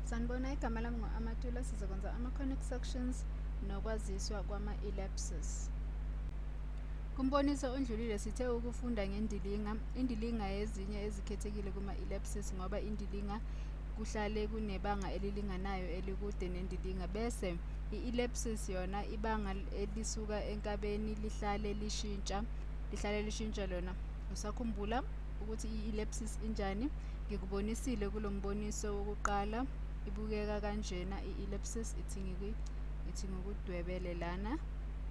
sanibona igama lami ngo-amatula sizokwenza ama-conic sections nokwaziswa kwama-elapses kumboniso ondlulile sithe ukufunda ngendilinga indilinga yezinye ezikhethekile kuma-elapses ngoba indilinga kuhlale kunebanga elilinganayo elikude nendilinga bese i-elapses yona ibanga elisuka enkabeni lihlale lishintsha lihlale lishintsha lona usakhumbula ukuthi i-ellipsis injani ngikubonisile kulo mboniso wokuqala ibukeka kanjena i-ellipsis ithi ithi ngikudwebele lana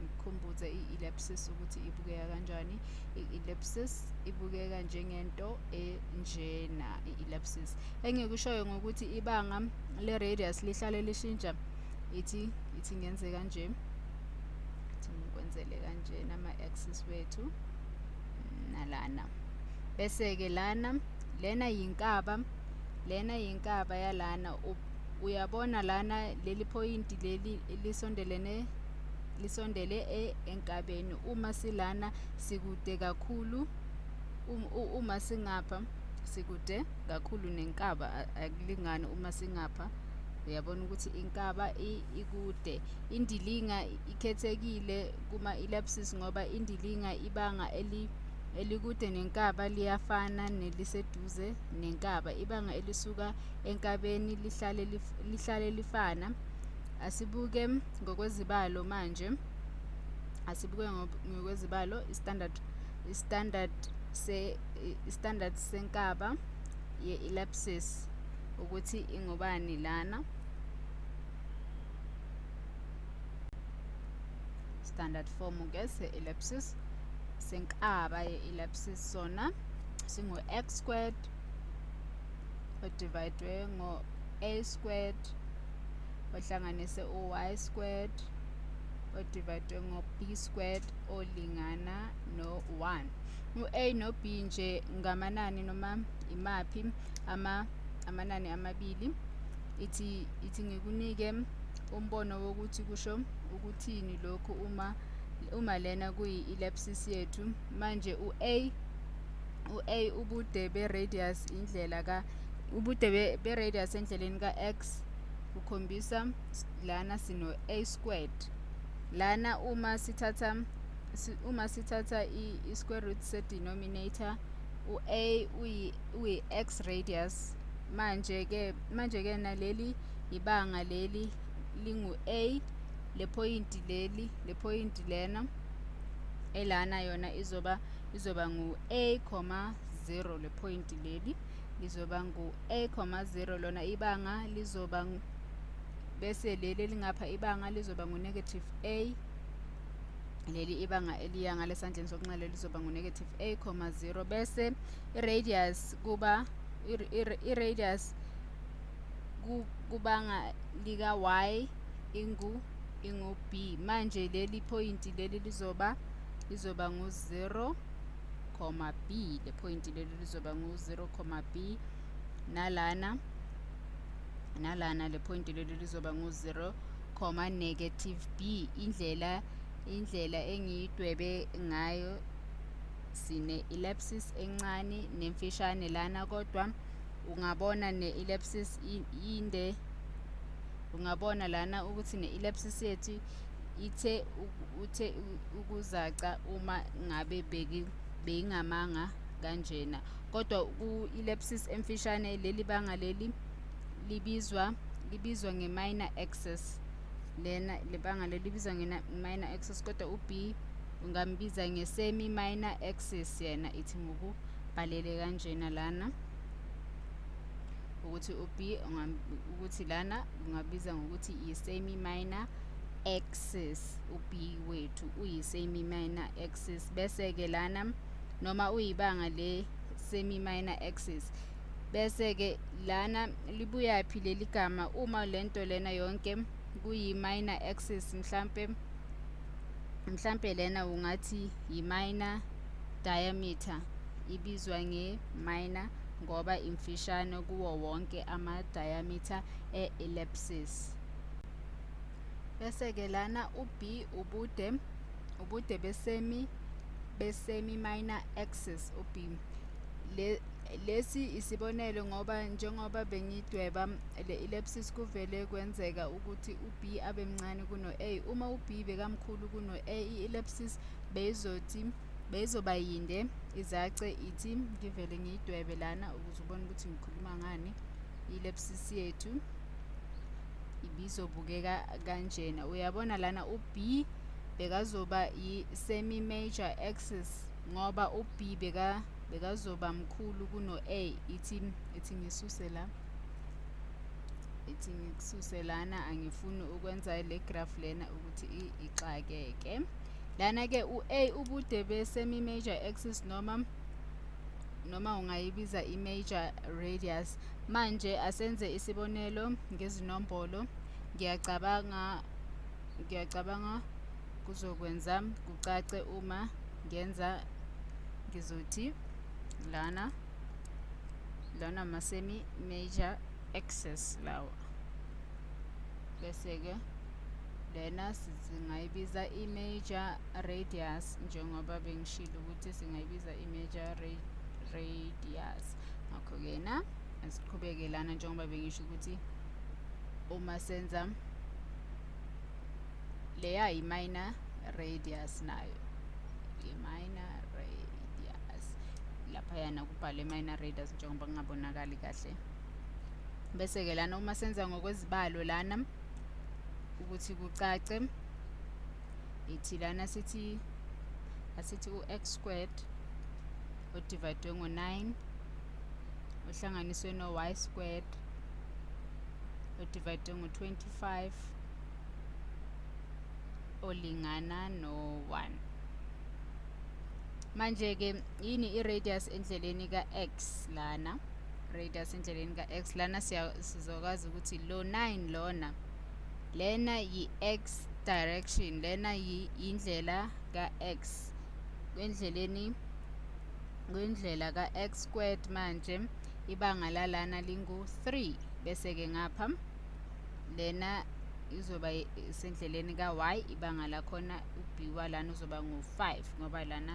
ngikhumbuze i-ellipsis ukuthi ibukeka kanjani i-ellipsis ibukeka njengento enjena i-ellipsis engikushoyo ngokuthi ibanga le-radius lihlale lishintsha ithi ithi ngenze kanje ithi ngikwenzele kanjena ama-axis wethu nalana bese-ke lana lena yinkaba lena yinkaba yalana uyabona lana leli phoyinti leli lisondelene lisondele e, enkabeni uma silana sikude kakhulu um, uma singapha sikude kakhulu nenkaba akulingani uma singapha uyabona ukuthi inkaba ikude indilinga ikhethekile kuma ilapses ngoba indilinga ibanga eli elikude nenkaba liyafana neliseduze nenkaba ibanga elisuka enkabeni lihlale lif, lihlale lifana asibuke ngokwezibalo manje asibuke ngokwezibalo standard standard se standard senkaba ye ellipsis ukuthi ingobani lana standard form ke se-ellipsis senkaba ye-ellipsis sona singu-x squared odivayidwe ngo-a squared ohlanganise u-y squared odivayidwe ngo-b squared olingana no-1 u-a no-b nje ngamanani noma imaphi ama amanani amabili ithi ithi ngikunike Umbono wokuthi kusho ukuthini lokhu uma uma lena kuyi-ellipsis yethu manje u-a u-a ubude be-radius indlela ka ubude be-radius endleleni ka-x kukhombisa lana sino-a squared lana uma sithatha uma sithatha i-square root se-denominator u-a uyi-x radius manje-ke manje-ke naleli ibanga leli lingu-a lephoyinti leli lephoyinti lena elana yona izoba izoba ngu-a comma 0 lephoyinti leli lizoba ngu-a comma 0 lona ibanga lizoba bese leli elingapha ibanga lizoba ngu-negative a leli ibanga eliya ngalesandleni sokunxele lizoba ngu-negative a comma 0 bese i-radius kuba i-radius kubanga lika y ingu ingu b manje leli point leli lizoba lizoba ngu 0 comma b le point leli lizoba ngu 0 comma b nalana nalana le point leli lizoba ngu 0 comma negative b indlela indlela engiyidwebe ngayo sine ellipsis encane nemfishane lana kodwa ungabona ne-elepsis inde ungabona lana ukuthi ne-elepsis yethu ithe uthe ukuzaca uma ngabe beyingamanga kanjena kodwa ku-elepsis emfishane leli banga leli libizwa libizwa nge-minor access lena lebanga leli libizwa nge-minor access kodwa u-b ungambiza nge-semi minor access yena ithi ngokubhalele kanjena lana ukuthi u-b ukuthi lana ungabiza ngokuthi yi-semi minor axis u-b wethu uyi-semi minor axis bese-ke lana noma uyibanga le-semi minor axis bese-ke lana libuyaphi leli gama uma le nto lena yonke kuyi-minor axis mhlampe mhlampe lena ungathi yi-minor diameter ibizwa nge-minor ngoba imfishane kuwo wonke ama-diameter e-ellipsis. Bese-ke lana u-B ubude ubude besemi besemi minor axis u-B. Le lesi isibonelo ngoba njengoba bengidweba le-ellipsis kuvele kwenzeka ukuthi u-B abe mncane kuno-A. Uma u-B bekamkhulu kuno-A, i-ellipsis beyizothi beyizoba yinde izace ithi ngivele ngiyidwebe lana ukuze ubone ukuthi ngikhuluma ngani ilepsisi yethu ibizobukeka kanjena uyabona lana u-b bekazoba yi-semi major axis ngoba u-b beka bekazoba mkhulu kuno-a ithi ithi ngisuse la ithi ngikususe lana angifuni ukwenza le graph lena ukuthi ixakeke lana-ke u-a ubude be-semi-major axis noma noma ungayibiza i-major radius manje asenze isibonelo ngezinombolo ngiyacabanga ngiyacabanga kuzokwenza kucace uma ngenza ngizothi lana lana ama-semi major axis lawa bese-ke lena singayibiza i-major radius njengoba bengishilo ukuthi singayibiza i-major radius ngakho-ke na asiqhubeke lana njengoba bengisho ukuthi uma senza leya yi-minor radius nayo i-minor radius laphayana kubhalwe i-minor radius njengoba kungabonakali kahle bese-ke lana uma senza ngokwezibalo lana ukuthi kucace ithi lana sithi asithi u-x squared odivayidwe ngo-9 ohlanganiswe no-y squared odivayidwe ngo-25 olingana no-1 manje-ke yini i-radius endleleni ka-x lana radius endleleni ka-x lana sizokwazi ukuthi lo 9 lona lena yi-x direction lena yindlela ka-x kwendleleni kwindlela ka-x squared manje ibanga lalana lingu-3 bese-ke ngapha lena izoba sendleleni ka-y ibanga lakhona uby lana uzoba ngu-5 ngoba lana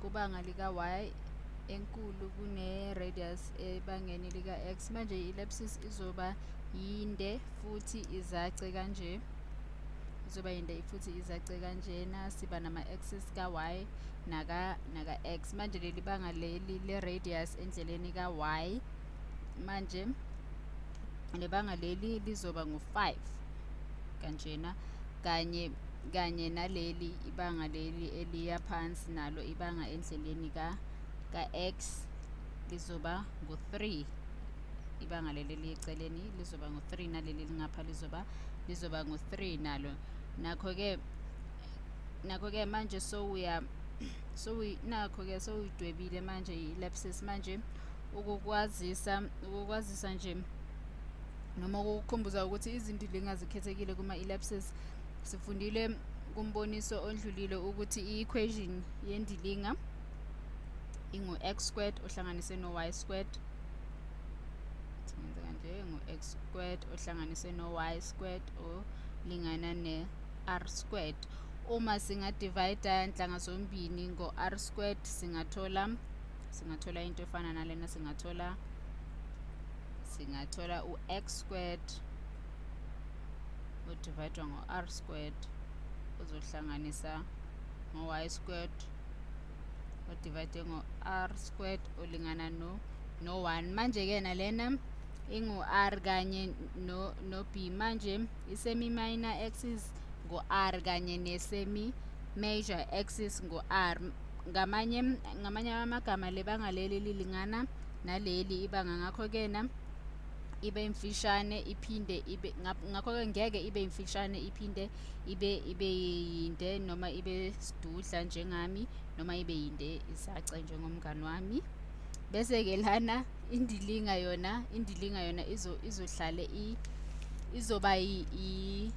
kubanga lika-y enkulu kune-radius ebangeni lika-x manje i-ellipsis izoba yinde futhi izace kanje izoba yinde futhi izace kanjena siba nama-axis ka-y naka-x manje leli banga leli le-radius endleleni ka-y manje nebanga leli lizoba ngu-5 kanjena kanye kanye naleli ibanga leli eliya phansi nalo ibanga endleleni ka ka-x lizoba ngu-3 ibanga leli eliyeceleni lizoba ngu-3 naleli lingapha lizoba lizoba ngu-3 nalo nakho-ke nakho-ke manje sowuya so nakho-ke sowuyidwebile manje i-lapses manje ukukwazisa ukukwazisa nje noma ukukukhumbuza ukuthi izindilinga zikhethekile kuma-elapses sifundile kumboniso ondlulile ukuthi i-equation yendilinga ingu-x squared ohlanganise no-y squared singenza kanje ngu-x squared ohlanganise no-y squared olingana ne-r squared uma singadivayida nhlanga zombini ngo-r squared singathola singathola into efana nalena singathola singathola u-x squared udivayidwa ngo-r squared uzohlanganisa ngo-y squared udivayide ngo-r squared olingana no no-1 manje-ke nalena ingu-r kanye no-b manje isemi-minor axis ngu-r kanye nesemi-major axis ngu-r ngamanye ngamanye amagama le banga leli lilingana naleli ibanga ngakho-ke na ibe imfishane iphinde ibe ngakho-ke ngeke ibe imfishane iphinde ibe ibe yinde noma ibe sidudla njengami noma ibe yinde isace njengomngani wami bese-ke lana indilinga yona indilinga yona izo izohlale i izoba i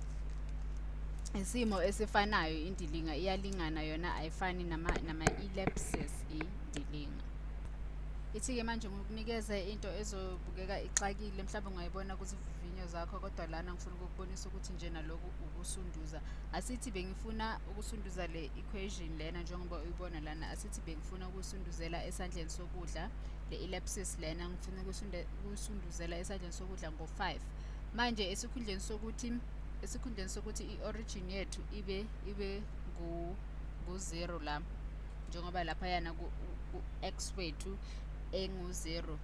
isimo esifanayo indilinga iyalingana yona ayifani nama nama elapses indilinga ithi-ke manje ngikunikeze into ezobukeka ixakile mhlawumbe ungayibona kuzivivinyo zakho kodwa lana ngifuna ukukubonisa ukuthi nje naloku ukusunduza asithi bengifuna ukusunduza le equation lena njengoba uyibona lana asithi bengifuna ukusunduzela esandleni sokudla le ellipsis lena ngifuna ukusunduzela esandleni sokudla ngo-5 manje esikhundleni sokuthi esikhundleni sokuthi i-origin yethu ibe ibe ngu-zero la njengoba laphayana ku-x wethu engu-zero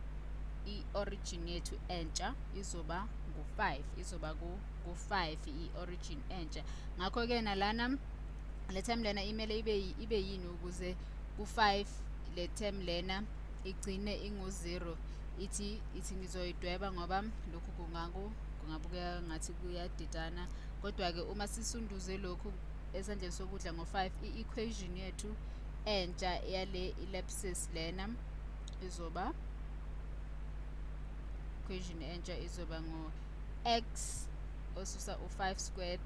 i-origin yethu entsha izoba ngu-5 izoba ku-5 i-origin entsha ngakho-ke nalana le term lena imele ibe ibe yini ukuze ku5 le term lena igcine ingu0 ithi ithi ngizoyidweba ngoba lokhu kungaku kungabukeka ngathi kuyadidana kodwa-ke uma sisunduze lokhu esandleni sokudla ngo-5 i-equation yethu entsha yale ellipsis lena izoba equation entsha izoba ngo-x osusa u-5 squared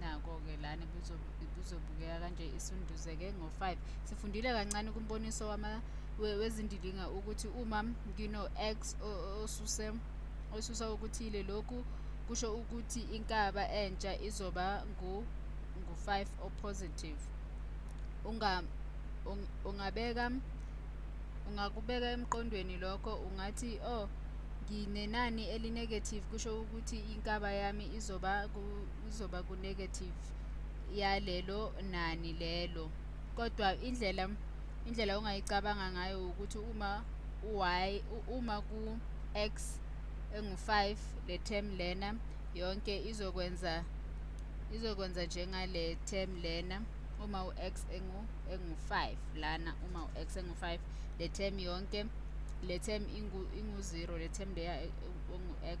nako-ke lana ibuzobukeka kanje isunduzeke ngo-five sifundile kancane kumboniso wezindilinga ukuthi uma ngino-x osuse osusa okuthile lokhu kusho ukuthi inkaba entsha izoba ngu-5 opositive ungabeka ungakubeka emqondweni lokho ungathi oh nginenani elinegative kusho ukuthi inkaba yami izoba kuzoba ku-negative yalelo nani lelo kodwa indlela indlela ongayicabanga ngayo ukuthi uma u-y uma ku-x engu-5 le term lena yonke izokwenza izokwenza njengale term lena uma u-x engu engu-5 lana uma u-x engu-5 le term yonke le term ingu-0 le term leya engu-x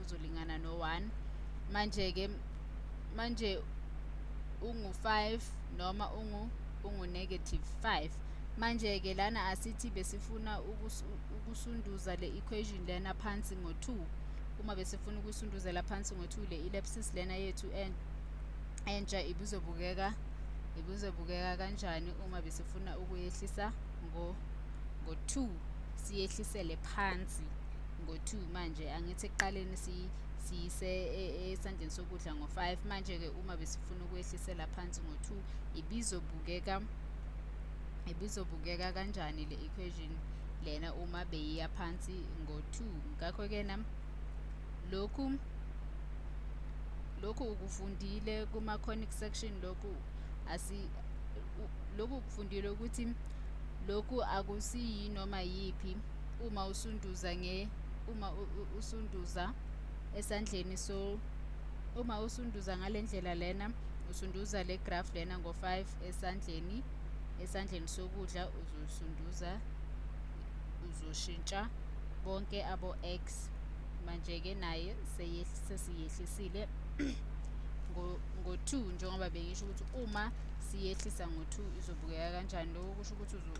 uzolingana no 1 manje ke manje ungu 5 noma ungu ungu negative 5 manje ke lana asithi besifuna ukusunduza le equation lena phansi ngo 2 uma besifuna ukusunduzela phansi ngo 2 le ellipsis lena yethu en entsha ibuzobukeka ibuzobukeka kanjani uma besifuna ukuyehlisa ngo ngo 2 siyehlisele phansi ngo-two manje angithi ekuqaleni siyise e, esandleni sokudla ngo-five manje-ke uma besifuna ukwehlisela phansi ngo-two ibizobukeka ibizobukeka kanjani le equation lena uma beyiya phansi ngo-two ngakho-ke na lokhu lokhu ukufundile kuma-conic section lokhu asi lokhu kufundile ukuthi lokhu akusiyi noma yiphi uma usunduza nge uma usunduza esandleni so uma usunduza ngale ndlela lena usunduza le graph lena ngo-5 esandleni esandleni sokudla uzosunduza uzoshintsha bonke abo-x manje-ke naye sesiyehlisile ngo-2 njengoba bengisho ukuthi uma siyehlisa ngo-2 izobukeka kanjani lokho kusho ukuthi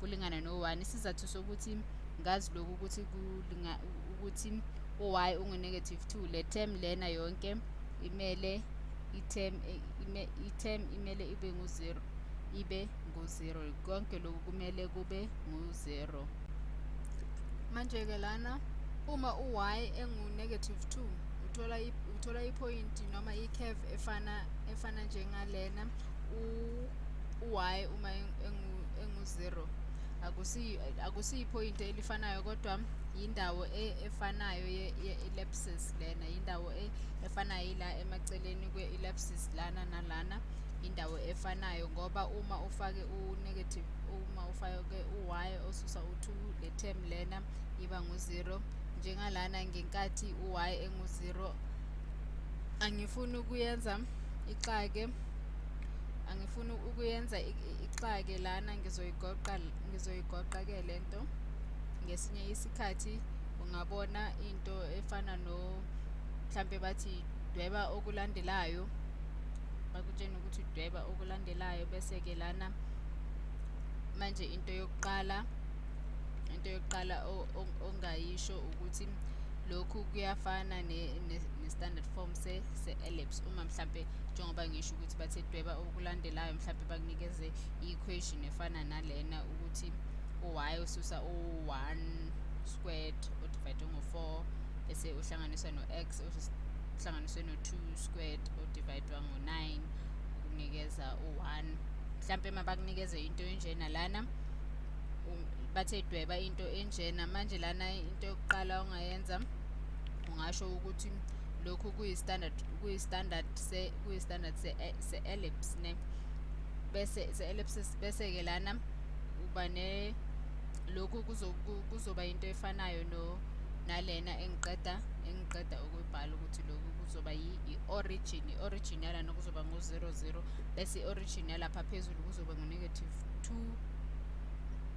kulingana no-1 isizathu sokuthi ngazi lokhu ukuthi kulinga ukuthi u-y ungu-negative 2 le term lena yonke imele i-term i-term imele ibe ngu-0 ibe ngu-0 konke lokhu kumele kube ngu-0 manje-ke lana uma u-y engu-negative 2 uthola uthola iphoyinti noma i-curve efana efana njengalena u u-y uma engu-zero akusiyiphoyinti elifanayo kodwa yindawo e, efanayo ye-ellipsis lena yindawo e, efanayo ila emaceleni kwe-ellipsis lana nalana indawo efanayo ngoba uma ufake u-negative uma ufake u-y osusa u-2 le term lena iba ngu-0 njengalana ngenkathi u-y engu-0 angifuni ukuyenza ixake angifuni ukuyenza ixake lana ngizoyigoqa ngizoyigoqa ke lento ngesinye isikhathi ungabona into efana no mhlampe bathi dweba okulandelayo bakutshena ukuthi dweba okulandelayo bese ke lana manje into yokuqala into yokuqala ongayisho ukuthi lokhu kuyafana ne-standard form se-ellipse uma mhlampe njengoba ngisho ukuthi ukuthi bathi dweba okulandelayo mhlawumbe bakunikeze i-equation efana nalena ukuthi u-y ususa u-one squared odivayidwe ngo-four bese uhlanganiswa no-x uhlanganiswe no-two squared odivayidwa ngo-nine ukunikeza u-one mhlawumpe uma bakunikeze into enjena lana bathe dweba into enjena manje lana into yokuqala ongayenza ungasho ukuthi lokhu kuyi-standard kuyi-standard se kuyi standard se, eh, se ellipse ne bese se ellipsis bese ke lana uba ne lokhu kuzoba into efanayo no nalena engiqeda engiqeda ukuyibhala ukuthi lokhu kuzoba i-origin i-origin yalana kuzoba ngo-zero zero bese i-origin yalapha phezulu kuzoba ngu-negative two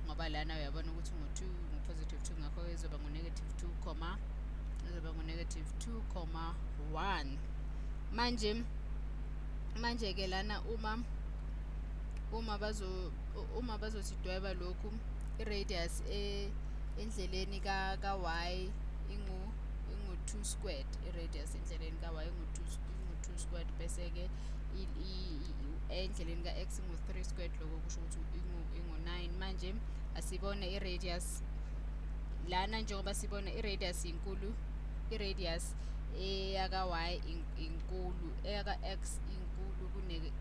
ngoba lana uyabona ukuthi ngu-two ngu-positive two ngakho-ke izoba ngu-negative two comma izoba ngu-negative two comma one manje manje ke lana uma uma bazo uma bazosidweba lokhu i-radius e, endleleni ka ka y ingu ingu 2 squared i-radius endleleni ka y ingu 2 ingu 2 squared bese ke endleleni ka x ingu 3 squared lokho kusho ukuthi ingu ingu 9 manje asibone i-radius lana njengoba sibona i-radius inkulu i-radius eyaka-y inkulu eyaka-x inkulu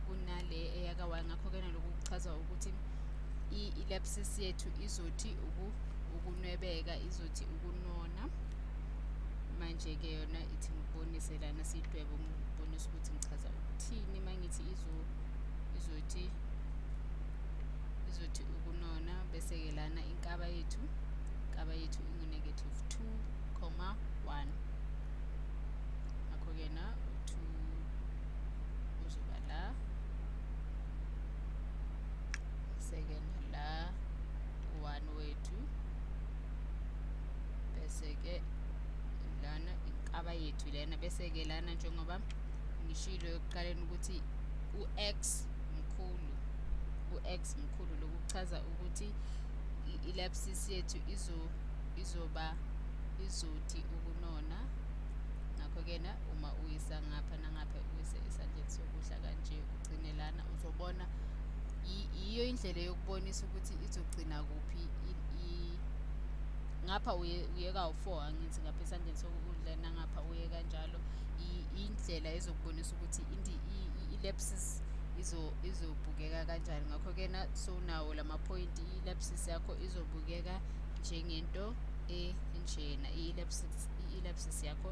kunale eyaka-y ngakho-ke naloku kuchaza ukuthi i-lepsis yethu izothi ukunwebeka izothi ukunona manje-ke yona ithi ngibonise lana sidwebe ngibonise ukuthi ngichaza ukuthini uma ngithi izothi izothi ukunona bese-ke lana inkaba yethu inkaba yethu ingu-negative two comma one ngakho-ke na uthi uzoba la seke nala one wethu bese-ke lana inkaba yethu lena bese-ke lana njengoba ngishilo ekuqaleni ukuthi u-x mkhulu u-x mkhulu lokuchaza ukuthi i-lapsis yethu izo izoba izothi ukunona ngakho-ke na uma uyisa ngapha nangapha uyise esandleni sokudla kanje ugcine lana uzobona yiyo indlela yokubonisa ukuthi izogcina kuphi ngapha uyeka u-four angithi ngapha esandleni sokudla nangapha uye kanjalo indlela ezokubonisa ukuthi i-lapses izobukeka kanjani ngakho-ke na sowunawo la maphoyinti i-lapses yakho izobukeka njengento enjena i-elapsis yakho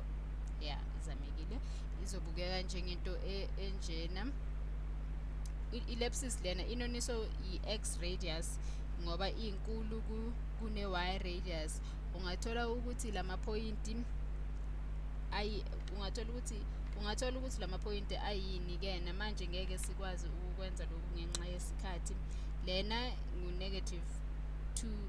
ya izamekile izobukeka njengento e, enjena i-elapsis lena inoniso i-x radius ngoba inkulu kune-y radius ungathola ukuthi la maphoyinti ayi ungathola ukuthi ungathola ukuthi la maphoyinti ayini ke namanje ngeke sikwazi ukukwenza lokhu ngenxa yesikhathi lena ngu-negative 2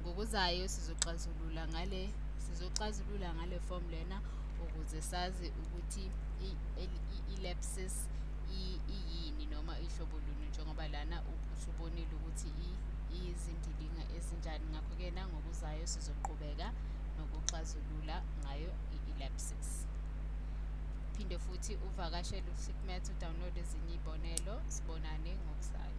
ngokuzayo sizoxazulula ngale sizoxazulula ngale form lena ukuze sazi ukuthi i-elapsis iyini noma ihlobo luni njengoba lana usubonile ukuthi iyizindilinga ezinjani ngakho-ke nangokuzayo sizoqhubeka nokuxazulula ngayo i-elapsis phinde futhi uvakashele usikmet udownload ezinye iy'bonelo sibonane ngokuzayo